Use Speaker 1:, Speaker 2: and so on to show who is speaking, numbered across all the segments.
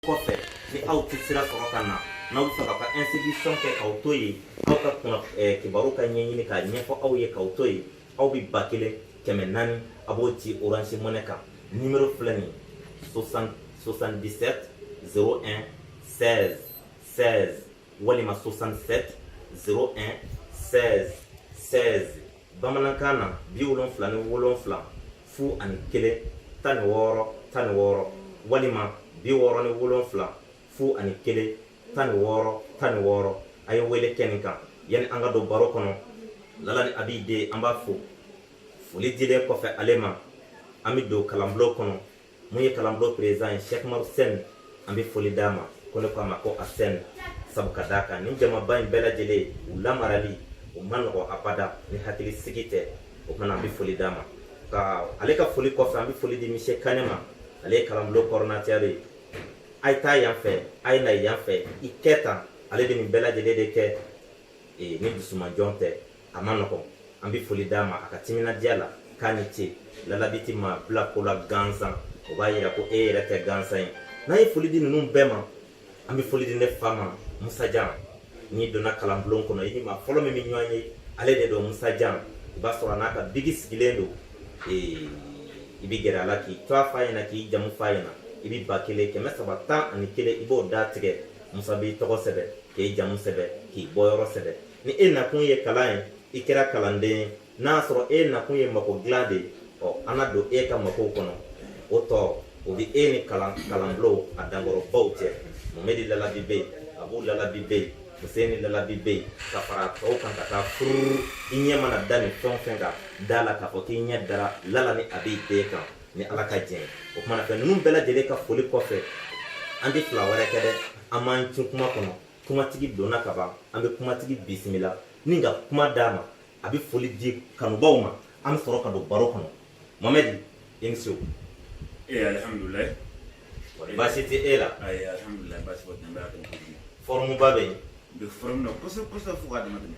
Speaker 1: kɔfɛ ni aw tɛ sira sɔrɔ ka na n'aw b'a fɛ k'aw ka inscription kɛ k'aw to yen aw ka kuna eh, kibaru ka ɲɛɲini k'a ɲɛfɔ aw ye k'aw to yen aw bɛ ba kelen kɛmɛ naani a b'o ci orange money kan nimero filɛ nin 77 01 16 16 walima 67 01 16 16 bamanankan na bi wolonfila ni wolonfila fu ani kelen tan ni wɔɔrɔ tan ni wɔɔrɔ walima bi wɔɔrɔ ni wolonfila fu ani kelen tan ni wɔɔrɔ tan ni wɔɔrɔ a ye wele kɛ nin kan yanni an ka don baro kɔnɔ lala ni abi den an b'a fo foli dilen kɔfɛ ale ma an bɛ don kalanbulon kɔnɔ mun ye kalanbulon président ye Sheikh Umaru Sɛni an bɛ foli d'a ma ko ne ko a ma ko a Sɛni sabu ka d'a kan nin jamaba in bɛɛ lajɛlen u lamarali o ma nɔgɔ abada ni hakili sigi tɛ o kumana an bɛ foli d'a ma ka ale ka foli kɔfɛ an bɛ foli di Mise Kane ma ale ye kalanbulon coordinateur ye a ye taa yan fɛ a ye na yan fɛ i kɛ tan ale de nin bɛɛ lajɛlen de kɛ ee ni dusuma jɔn tɛ a ma nɔgɔn an bɛ foli d'a ma a ka timinandiya la k'a ni ce lalabi tɛ maa bila ko la gansan o b'a yira ko e yɛrɛ tɛ gansan ye n'an ye foli di ninnu bɛɛ ma an bɛ foli di ne fa ma musajan n'i donna kalanbulon kɔnɔ i ni maa fɔlɔ min bɛ ɲɔgɔn ye ale de don musajan i b'a sɔrɔ a n'a ka biki sigilen don ee i bɛ gɛrɛ a la k'i tɔgɔ f'a ɲɛna k'i jamu f'a ɲɛna i bɛ ba kelen kɛmɛ saba tan ani kelen i b'o d'a tigɛ musa b'i tɔgɔ sɛbɛn k'i jamu sɛbɛn k'i bɔyɔrɔ sɛbɛn ni e nakun ye kalan ye i kɛra kalanden ye n'a sɔrɔ e nakun ye mako dilan de ye ɔ an na don e ka makow kɔnɔ o tɔ o bɛ e ni kalan kalanbulonw a dankɔrɔbaw cɛ mɔmɛdi lalabi bɛ yen abu lalabi bɛ yen fuseni lalabi bɛ yen ka fara tɔw kan ka taa furu i ɲɛ mana da nin fɛn o fɛn kan da la k'a fɔ k'i ɲɛ dara lala ni abi den kan ni ala ka jɛn o kumana fɛ ninnu bɛɛ lajɛlen ka foli kɔfɛ an tɛ fila wɛrɛ kɛ dɛ an b'an cun kuma kɔnɔ kumatigi donna ka ban an bɛ kumatigi bisimila ni ka kuma d'a ma a bɛ foli di kanubaw ma an bɛ sɔrɔ ka don baro kɔnɔ mɔmɛdi i ni sɛ ee eh, alihamudulilayi baasi tɛ e la ayi eh, alihamudulilayi baasi
Speaker 2: foyi tɛ n bɛ a dɔn fɔrɔmuba bɛ yen
Speaker 1: bɛ fɔrɔmu na
Speaker 2: kosɛbɛ kosɛbɛ fo k'a dama tɛmɛ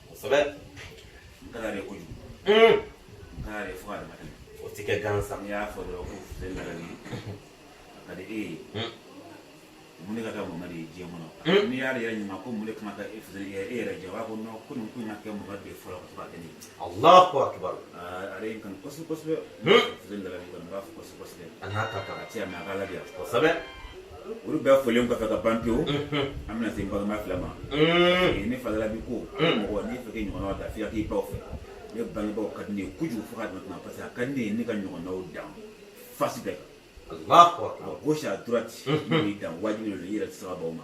Speaker 1: kosɛbɛ
Speaker 2: n ka d'ale ye kojugu n ka d'ale ye fo k'a dama tɛmɛ o tɛ kɛ gansan n'i
Speaker 1: y'a fɔ dɔrɔn ko
Speaker 2: fuseni lalabi a ka di e ye mun de ka kɛ mɔmɛdi ye diɲɛ kɔnɔ n'i y'ale yɛrɛ ɲininka ko mun de kan ka kɛ fuseni ye e yɛrɛ jɛ o b'a fɔ nɔn ko nin ko in ka kɛ mɔmɛdi ye fɔlɔ ka to k'a kɛ ne ye alahu akibaru
Speaker 1: ale ye n kanu
Speaker 2: kosɛbɛ kosɛbɛ fuseni lalabi kɔni n b'a fo kosɛbɛ A n'a ta ta
Speaker 1: cɛ mɛ ala
Speaker 2: de
Speaker 1: kosɛbɛ olu
Speaker 2: bɛɛ folen kɔfɛ ka ban pewu an bɛna se balima fila ma ne fa lalabi ko mɔgɔ ni fɛ ɲɔgɔn da fiya k'i baw fɛ ne bangebaaw ka di ne ye kojugu fo k'a dama tɛmɛ parce que ka di ne ka ɲɔgɔnw dan face bɛɛ kan à
Speaker 1: gauche
Speaker 2: à
Speaker 1: droite
Speaker 2: n b'i dan wajibi yɛrɛ sababu ma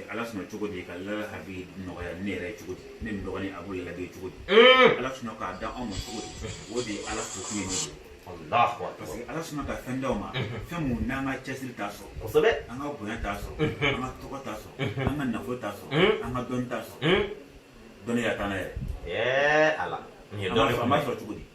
Speaker 2: ala sɔnna cogo di ka lala habi nɔgɔya ne yɛrɛ cogo di ne ni dɔgɔnin abu labɛn cogo di ala sɔnna k'a da anw ma cogo di o de ye ala fo kun ye ne ye parce que
Speaker 1: ala sɔnna ka fɛn
Speaker 2: d'anw ma fɛn mun n'an ka cɛsiri t'a sɔrɔ kosɛbɛ an ka
Speaker 1: bonya t'a
Speaker 2: sɔrɔ an ka tɔgɔ t'a sɔrɔ an ka nafolo t'a sɔrɔ an ka dɔnni t'a sɔrɔ dɔnniya t'an na yɛrɛ ala
Speaker 1: nin ye dɔnni an b'a sɔrɔ cogo di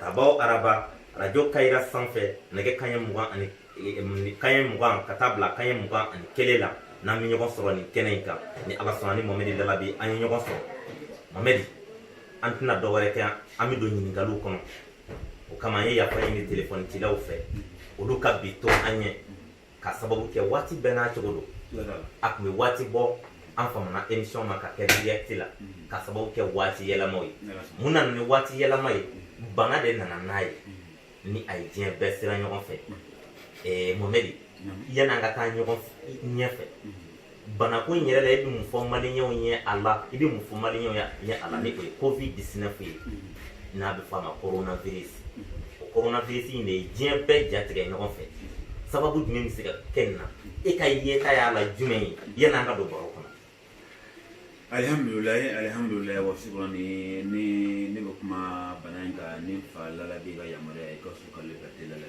Speaker 1: araba o araba arajo kayira sanfɛ nɛgɛ kaɲɛ mugan ani e, e, kaɲɛ mugan ka taa bila kaɲɛ mugan ani kelen la n'an bɛ ɲɔgɔn sɔrɔ nin kɛnɛ in kan ni ala sɔnna ni momɛdi lalabi an ye ɲɔgɔn sɔrɔ momɛdi an tɛna dɔ wɛrɛ kɛ an bɛ don ɲininkaliw kɔnɔ o kama an ye yafa ɲini telefɔni cilaw fɛ olu ka bi to an ɲɛ ka sababu kɛ waati bɛɛ n'a cogo don a tun bɛ waati bɔ an famana émission ma ka kɛ direct la mm-hmm. ka sababu kɛ waati yɛlɛmaw ye mun nana ni waati yɛlɛma ye mm-hmm. bana de nana n'a ye mm-hmm. ni a ye diɲɛ bɛɛ siran ɲɔgɔn fɛ eh, momɛdi yan'an ka taa ɲɔgɔn ɲɛfɛ banako in yɛrɛ la i bɛ mun fɔ maliyɛnw ye a la i bɛ mun fɔ maliyɛnw ye a la ni o ye covid 19 ye n'a bɛ fɔ a ma coronavirus o coronavirus in de ye diɲɛ bɛɛ jatigɛ ɲɔgɔn fɛ sababu jumɛn bɛ se ka kɛ nin na e ka yeta y'a la jumɛn ye yan'an ka don baro kɔnɔ
Speaker 2: alihamdulilayi alihamdulilayi wa sukura ni ni ne bɛ kuma bana in kan ni fa lalabi ka yamaruya ye i ka su ka le ka teliya la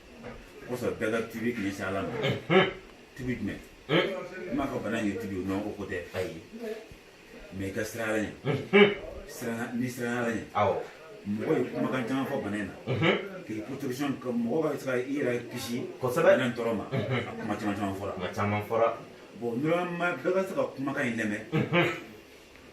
Speaker 2: kosɔn bɛɛ ka tuubi k'i ɲɛsin ala ma tuubi jumɛn n m'a fɔ bana in ye tuubi o non o ko tɛ ayi mais i ka siran ala ɲɛ siran a ɲɛ siran a ɲɛ awɔ
Speaker 1: mɔgɔ ye
Speaker 2: kumakan caman fɔ bana in na k'i protection ka mɔgɔ ka se ka i yɛrɛ kisi kosɛbɛ bana in tɔɔrɔ
Speaker 1: ma a
Speaker 2: kuma caman caman fɔra kuma caman fɔra
Speaker 1: bon normalement
Speaker 2: bɛɛ ka se ka kumakan in lamɛn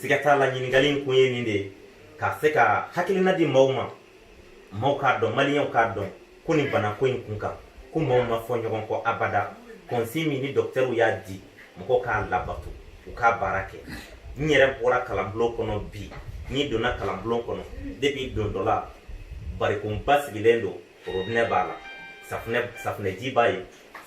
Speaker 1: siga t'a la ɲininkali in kun ye nin de ye ka se ka hakilina di maaw ma maaw k'a dɔn maliyɛnw k'a dɔn ko nin banako in kun kan ko maaw ma fɔ ɲɔgɔn kɔ abada kɔnsi min ni dɔkitɛriw y'a di mɔgɔw k'a labato u ka baara kɛ n yɛrɛ bɔra kalanbulon kɔnɔ bi n'i donna kalanbulon kɔnɔ depuis donda la barikonba sigilen don orobinɛ b'a la safunɛji b'a ye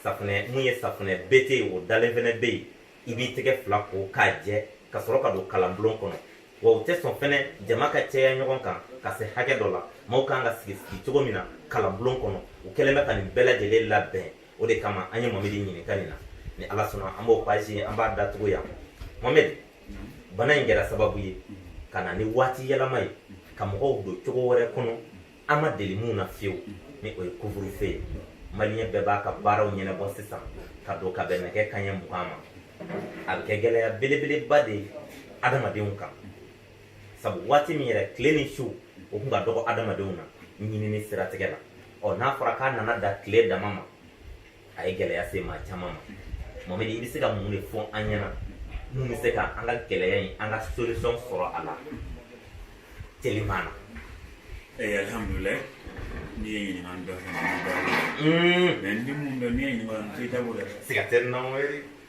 Speaker 1: safunɛ mun ye safunɛ bete ye o dalen fɛnɛ be yen i b'i tɛgɛ fila ko k'a jɛ ka sɔrɔ ka don kalanbulon kɔnɔ wa u tɛ sɔn fɛnɛ jama ka cɛya ɲɔgɔn kan ka se hakɛ dɔ la maaw kan ka sigi sigi cogo min na kalanbulon kɔnɔ u kɛlen bɛ ka nin bɛɛ lajɛlen labɛn o de kama an ye mamedi ɲininka nin na ni ala sɔnna an b'o page an b'a datugu yan mamedi bana in kɛra sababu ye ka na ni waati yɛlɛma ye ka mɔgɔw don cogo wɛrɛ kɔnɔ an ma deli minnu na fiyewu ni o ye couvre-feu ye maliyɛn bɛɛ b'a ka baaraw ɲɛnabɔ sisan ka don ka bɛn nɛgɛ kanɲɛ mugan ma a bɛ kɛ gɛlɛya belebeleba de ye adamadenw kan sabu waati min yɛrɛ tile ni su o kun ka dɔgɔ adamadenw na ɲinini siratigɛ la ɔ n'a fɔra k'a nana da tile dama ma a ye gɛlɛya se maa caman ma mamadi i bɛ se ka mun de fɔ an ɲɛna mun bɛ se ka an ka gɛlɛya in an ka solution sɔrɔ a la teliman na
Speaker 2: Eh, alhamdulillah n'i ye ɲininkali dɔ kɛ mɛ ni mun dɔ n'i ye ɲininkali n tɛ dabɔ dɛ siga tɛ nɔn wɛrɛ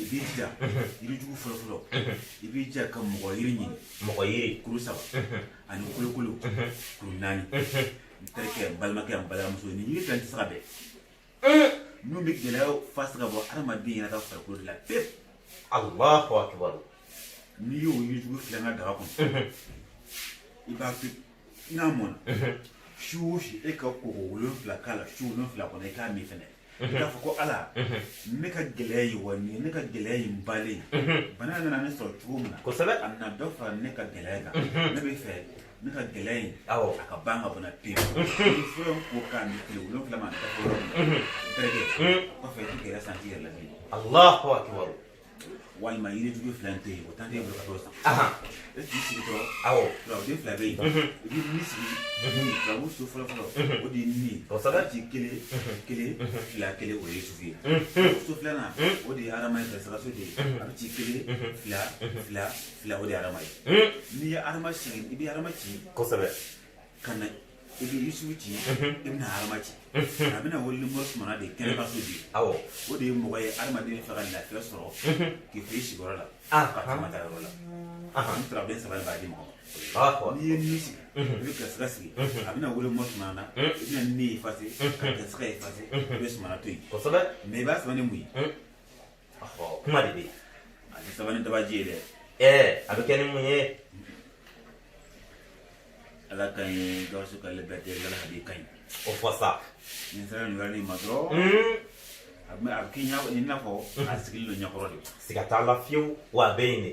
Speaker 2: i b'i jija yirijugu fɔlɔfɔlɔ i b'i jija ka mɔgɔ yiri ɲini mɔgɔ yiri
Speaker 1: kuru
Speaker 2: saba ani kolokolo kuru naani n terikɛ n balimakɛ n balimamuso nin yiri fila tɛ se ka bɛn n'u bɛ gɛlɛyaw fasi ka bɔ adamaden yɛrɛ ka farikolo de la pewu Allahu
Speaker 1: akbar n'i
Speaker 2: y'o yirijugu fila in kɛ daga kɔnɔ i b'a to n'a mɔna su o su e ka koko wolonfila k'a la su wolonfila kɔnɔ i k'a min fɛnɛ i k'a fɔ ko ala ne ka gɛlɛya ye wa nin ye ne ka gɛlɛya ye n balen bana nana ne sɔrɔ cogo min na kosɛbɛ a nana dɔ fara
Speaker 1: ne
Speaker 2: ka gɛlɛya kan ne bɛ fɛ ne ka gɛlɛya in a ka ban ka bɔ n
Speaker 1: na
Speaker 2: pewu ni fura in ko k'a min tile wolonfila ma dafa yɔrɔ min na terikɛ kɔfɛ i tɛ gɛlɛya santi i yɛrɛ la bilen Allahu akbar walima yiri jugu fila tɛ yen o tan tɛ bolo ka t'o san e k'i sigi dɔrɔn awɔ turaden
Speaker 1: fila bɛ
Speaker 2: yen i bɛ min sigi turabu so fɔlɔ fɔlɔ o de ye ni ye kosɛbɛ ci kelen kelen fila kelen o ye yusufu ye so filanan o de ye adama ye saraso de ye a bɛ ci kelen fila fila fila o de ye adama ye n'i ye adama sigi i bɛ adama ci kosɛbɛ ka na i bɛ yusufu ci i bɛna adama ci a bɛna wolo mori sumana de kɛnɛ ka so di awɔ o de ye mɔgɔ
Speaker 1: ye
Speaker 2: hadamaden fɛ ka lafiya sɔrɔ k'i to i sigiyɔrɔ la Ah. k'a ma taa yɔrɔ la an turaden saba de b'a di mɔgɔ ma awɔ n'i ye ni sigi i bɛ garisigɛ sigi a bɛna wolo mori sumana na i bɛna ni efase ka garisigɛ efase i bɛ sumana to yen kosɛbɛ mɛ i b'a
Speaker 1: sɛbɛn ni mun ye kuma de bɛ yen a tɛ sɛbɛn
Speaker 2: ni dabaji ye dɛ ɛɛ a bɛ kɛ
Speaker 1: ni mun
Speaker 2: ye ala ka ɲi gawusu ka libɛrite ala ka b'i ka ɲi o fɔ
Speaker 1: sa nin sera nin
Speaker 2: yɔrɔ nin ma dɔrɔn a bɛ a bɛ k'i ɲɛ i n'a fɔ a sigilen don i ɲɛkɔrɔ de siga t'a la fiyewu
Speaker 1: wa a bɛ yen de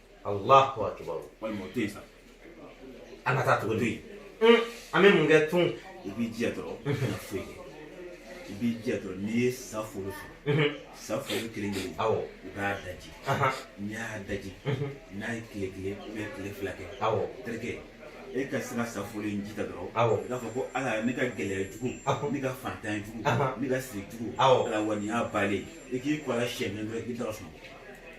Speaker 2: Allahu
Speaker 1: akbar walima o tɛ yen sa an ka taa tugu to yen an bɛ mun kɛ tun i b'i jija
Speaker 2: dɔrɔn i kana foyi kɛ i b'i jija dɔrɔn n'i ye sa foro sɔrɔ sa foro kelen kelen awɔ i b'a
Speaker 1: daji
Speaker 2: n'i y'a daji n'a ye tile kelen ou bien tile fila kɛ awɔ terikɛ e ka se ka sa foro in ji ta dɔrɔn awɔ i k'a fɔ ko
Speaker 1: ala ne ka
Speaker 2: gɛlɛya jugu ne ka faantan jugu ne ka siri jugu ala wa nin y'a
Speaker 1: balen
Speaker 2: i k'i ko a la siyɛn kelen dɔrɔn i bɛ taga sunɔgɔ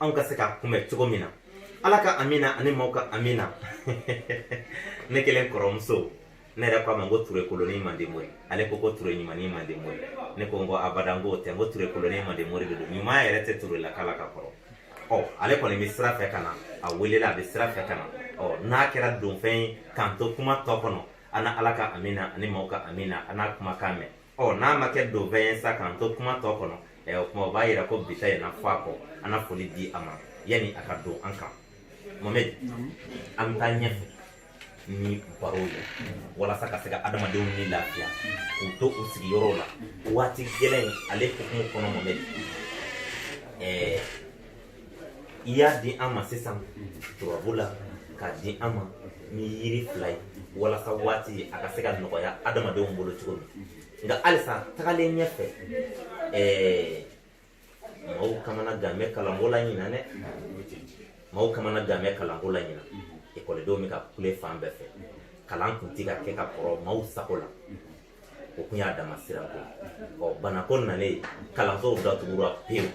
Speaker 1: anw ka se ka kunbɛ cogo min na ala ka amina ani maaw ka amina ne kelen kɔrɔmuso ne yɛrɛ ko a ma ko ture koloni mande mori ale ko ko ture ɲumani mande mori ne ko n ko abada n ko tɛ n ko ture koloni mande mori de don ɲuman yɛrɛ tɛ ture la k'a la ka kɔrɔ ɔ ale kɔni bɛ sira fɛ ka na a welela a bɛ sira fɛ ka na ɔ n'a kɛra donfɛn ye k'an to kuma tɔ kɔnɔ an na ala ka amina ani maaw ka amina an n'a kuma kan mɛn ɔ n'a ma kɛ donfɛn ye sa k'an to kuma tɔ kɔnɔ ɛ o kuma o b'a yira ko bi ta in na fɔ a kɔ an na foli di a ma yanni a ka don an kan mohamɛdi an bɛ taa ɲɛfɛ ni barow ye walasa ka se ka adamadenw ni lafiya k'u to u sigiyɔrɔw la waati gɛlɛn ale hukumu kɔnɔ mohamɛdi ɛɛ i y'a di an ma sisan turabu la k'a di an ma ni yiri fila ye walasa waati a ka se ka nɔgɔya adamadenw bolo cogo min nka halisa tagalen ɲɛfɛ ɛɛ maaw kamanagan bɛ kalanko la ɲina dɛ maaw kamanagan bɛ kalanko la ɲina ekɔlidenw bɛ ka kule fan bɛɛ fɛ kalan kun ti ka kɛ ka kɔrɔ maaw sago la o kun y'a dama sira ko ɔ bana ko nalen kalansow datugura pewu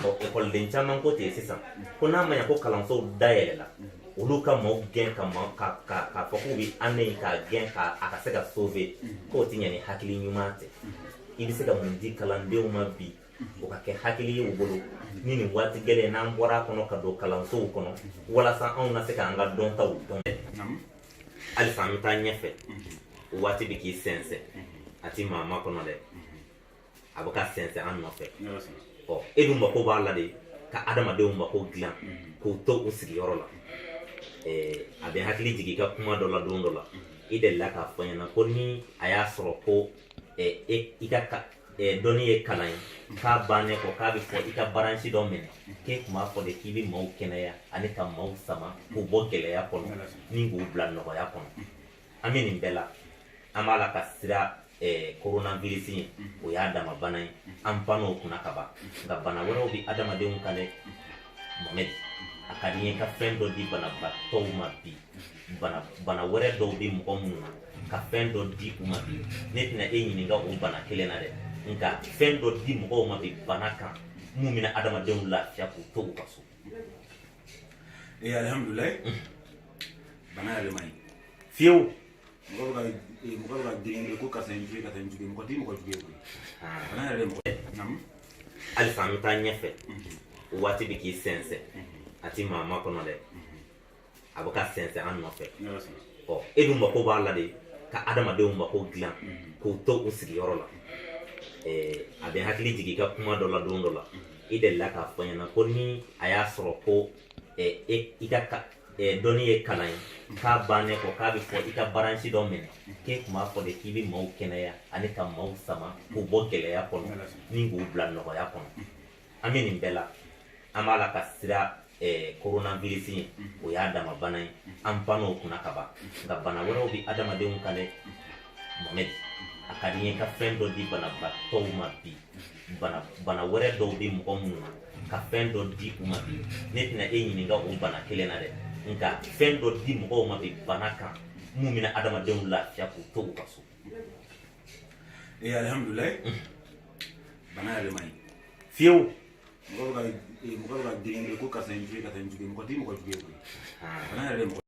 Speaker 1: ɔ ekɔliden caman ko ten sisan ko n'a ma ɲa ko kalansow dayɛlɛla olu ka maaw gɛn k'a fɔ k'u bɛ année k'a gɛn ka a ka se ka sauver k'o tɛ ɲɛ ni hakili ɲuman tɛ i bɛ se ka mun di kalandenw ma bi o ka kɛ hakili ye u bolo ni nin waati gɛlɛn n'an bɔra a kɔnɔ ka don kalansow kɔnɔ walasa anw na se k'an ka dɔntaw dɔn halisa an bɛ taa ɲɛfɛ waati bɛ k'i sɛnsɛn a ti maa makɔnɔ dɛ a bɛ ka sɛnsɛn an nɔfɛ ɔ e dun mako b'a la de ka adamadenw mako dilan k'u to u sigiyɔrɔ la a bɛ n hakili jigin i ka kuma dɔ la don dɔ la i delila k'a fɔ ɲɛna ko ni a y'a sɔrɔ ko i ka dɔnni ye kalan ye k'a bannen kɔ k'a bɛ fɔ i ka baransi dɔ minɛ k'e kun b'a fɔ de k'i bɛ maaw kɛnɛya ani ka maaw sama k'u bɔ gɛlɛya kɔnɔ ni k'u bila nɔgɔya kɔnɔ an bɛ nin bɛɛ la an b'a la ka siran coronavirus ye o y'a dama bana ye an banna o kunna ka ban nka bana wɛrɛw bɛ adamadenw kan dɛ mohamɛdi a ka di n ye ka fɛn dɔ di banabagatɔw ma bi bana bana wɛrɛ dɔw bɛ mɔgɔ minnu na ka fɛn dɔ di u ma bi ne tɛna e ɲininka o bana kelen na dɛ nka fɛn dɔ di mɔgɔw ma bi bana kan min bɛna adamadenw lafiya k'u to u ka so. ee
Speaker 2: alihamudulilayi bana yɛrɛ man ɲi
Speaker 1: fiyewu. mɔgɔ bɛ
Speaker 2: ka ee, mɔgɔ bɛ ka girin ko karisa ye n jugu ye karisa ye n jugu ye mɔgɔ tɛ mɔgɔ jugu ye koyi bana yɛrɛ de mɔgɔ naamu halisa an
Speaker 1: bɛ taa ɲɛfɛ waati bɛ k'i sɛnsɛn a ti maa makɔnɔ dɛ a bɛ ka sɛnsɛn an nɔfɛ ɔ e dun mako b'a la de ka adamadenw mako dilan k'u to u sigiyɔrɔ la a bɛ n hakili jigin i ka kuma dɔ la don dɔ la i delila k'a fɔ n ɲɛna ko ni a y'a sɔrɔ ko e, i ka dɔnni ye kalan ye k'a bannen kɔ k'a bɛ fɔ i ka baransi dɔ minɛ k'e tun b'a fɔ de k'i bɛ maaw kɛnɛya ani ka maaw sama k'u bɔ gɛlɛya kɔnɔ ni k'u bila nɔgɔya kɔnɔ an bɛ nin bɛɛ la an b'a la ka sira eh, coronavirus in o y'a dama bana ye an banna o kunna ka ban nka bana wɛrɛw bɛ adamadenw kan dɛ mohamɛd a ka di n ye ka fɛn dɔ di banabaatɔw ma bi bana wɛrɛ dɔw bɛ mɔgɔ minnu na ka fɛn dɔ di u ma bi ne tɛna e ɲininka o bana kelen na dɛ nka fɛn dɔ di mɔgɔw ma bi bana kan mun bɛna adamadenw lafiya k'u to u ka so ee
Speaker 2: alihamudulayi bana yɛrɛ man ɲi fiyewu
Speaker 1: mɔgɔ
Speaker 2: bɛ ka mɔgɔ bɛ ka girin ko karisa ye n jugu ye karisa ye n jugu ye mɔgɔ tɛ mɔgɔ jugu ye koyi bana yɛrɛ de mɔgɔ